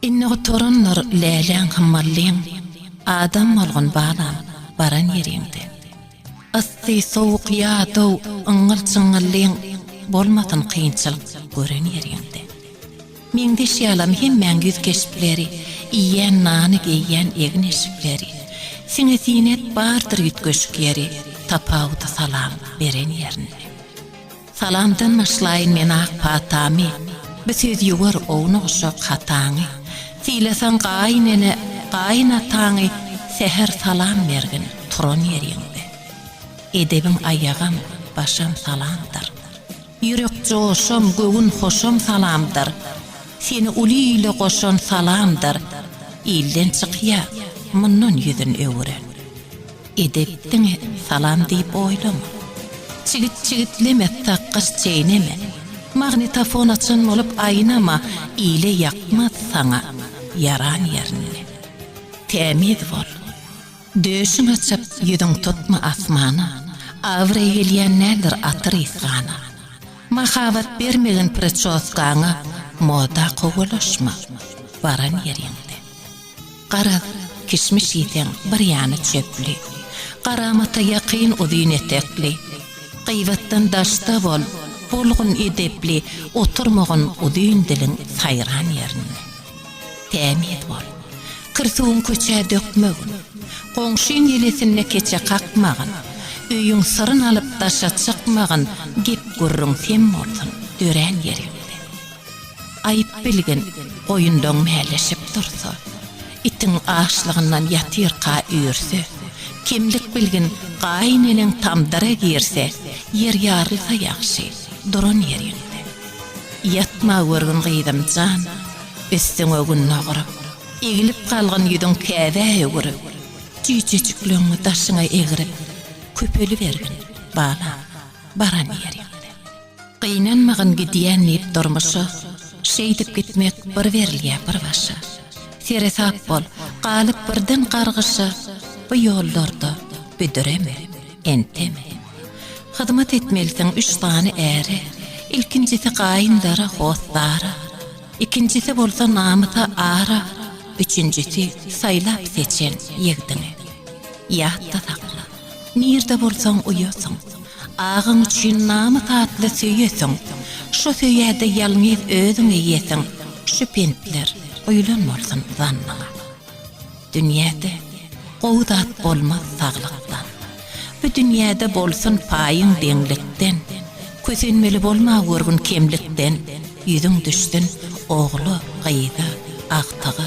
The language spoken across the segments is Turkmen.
Indi gutarandyr läläň hem mallyň, Adam bolgun balam, baran ýeriňde. Yssy, sowuk ýa dow, yňňyl-çyňňyllyň, Bolmasyn kynçylyk gören ýeriňde. Meňzeş ýalam hemmäň ýüz keşpleri, Iýen nany, geýýän egin-eşikleri. Siňe-siňek bardyr üýtgeşik ýeri, Tapawudy salam beren ýerinde. Salamdan başlaýyn men ak patamy, Bir söz ýuwar ownuk-uşak hataňy. Sylasaň gaýyn ene, gaýyn ataňy, Säher salam bergin, turan ýeriňde. Edebiň aýagam, başam salamdyr. Ýürek joşam, göwün hoşam salamdyr. Seni uly ile goşan salamdyr. Ilden çykýa, mundan ýüzün öwüren. Edep diňe salam diýip oýlama. Çigit çigitleme, takgaç çeýneme. Magnitofon açan bolup aýnama, ile ýakmaz saňa ýaran ýerinde. Tämiz bol. Döşüň açyk, ýüzüň tutma asmana. Abraý gelýän nädir atyr ysgana. Mahabat bermegin priçoskaňa, moda kowalaşma baran ýeriňde. Garaz, kişmiş iýseň, bir ýany çöpli. Garamata ýakyn uzyn etekli. Gybatdan daşda bol, bolgun edepli, oturmagyn uzyn diliň saýran ýerinde. Tämiz bol. Kir suwuň köçä dökmegin. Goňşyň ýelesinde keçe kakmagyn. Öýüň syryn alyp daşa çykmagyn, gep-gürrüň sem bolsun, dörän ýeriňde. Aýyp bilgin, goýunlaň mäleşip dursa, itiň açlygyndan ýatyrka üýrse, kemlik bilgin, gaýyneneň tamdyra girse, ýer ýarylsa ýagşy, duran ýeriňde. Ýatma görgün gyzym jan, üstüňe gün noguryp, egilip galgyn ýüzüň käbä öwürip, jüýjejikleňňi daşyňa egrip, köpelibergin, balam, baran ýeriňde. Gynanmagyn gidýän diýip durmuşa, Şeýdip gitmek bir berilýä bir başa. Seresap bol, galyp birden gargyşa, Bu ýollarda büdüreme, enteme. Hyzmat etmelisiň üç sany äre, Ilkinjisi gaýyndara, hossara, Ikinjisi bolsa namysa ara, Üçünjisi saýlap-seçen ýigdiňe. Ýatda sakla! Nirde bolsaň uýasyň. Agaň üçin namys atly söýesyň. Şo söýäde ýalňyz özüň eýesiň. Şu pentler guýlan bolsun zannyňa. Dünýäde gowy zat bolmaz saglykdan. Bu dünýäde bolsun paýyň deňlikden. Kösenmeli bolma görgün kemlikden. Ýüzüň düşsün ogla, gyza, agtyga.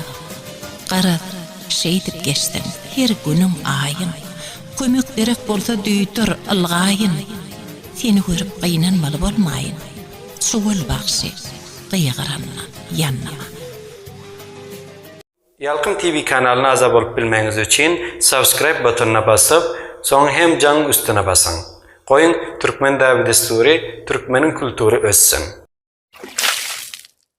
Garaz, Şeýdip geçseň, her günüň aýyn, Kömek gerek bolsa duýdur, ylgaýyn. Seni görüp gynanmaly bolmaýyn, Çuwal bagşy, gygyranma, ýannama. Ýalkym TV kanalyna aza bolup bilmegiňiz üçin subscribe butonyna basyp, soň hem jaň üstüne basyň. Goýuň Türkmen däbi-dessury, türkmeniň kultury össün!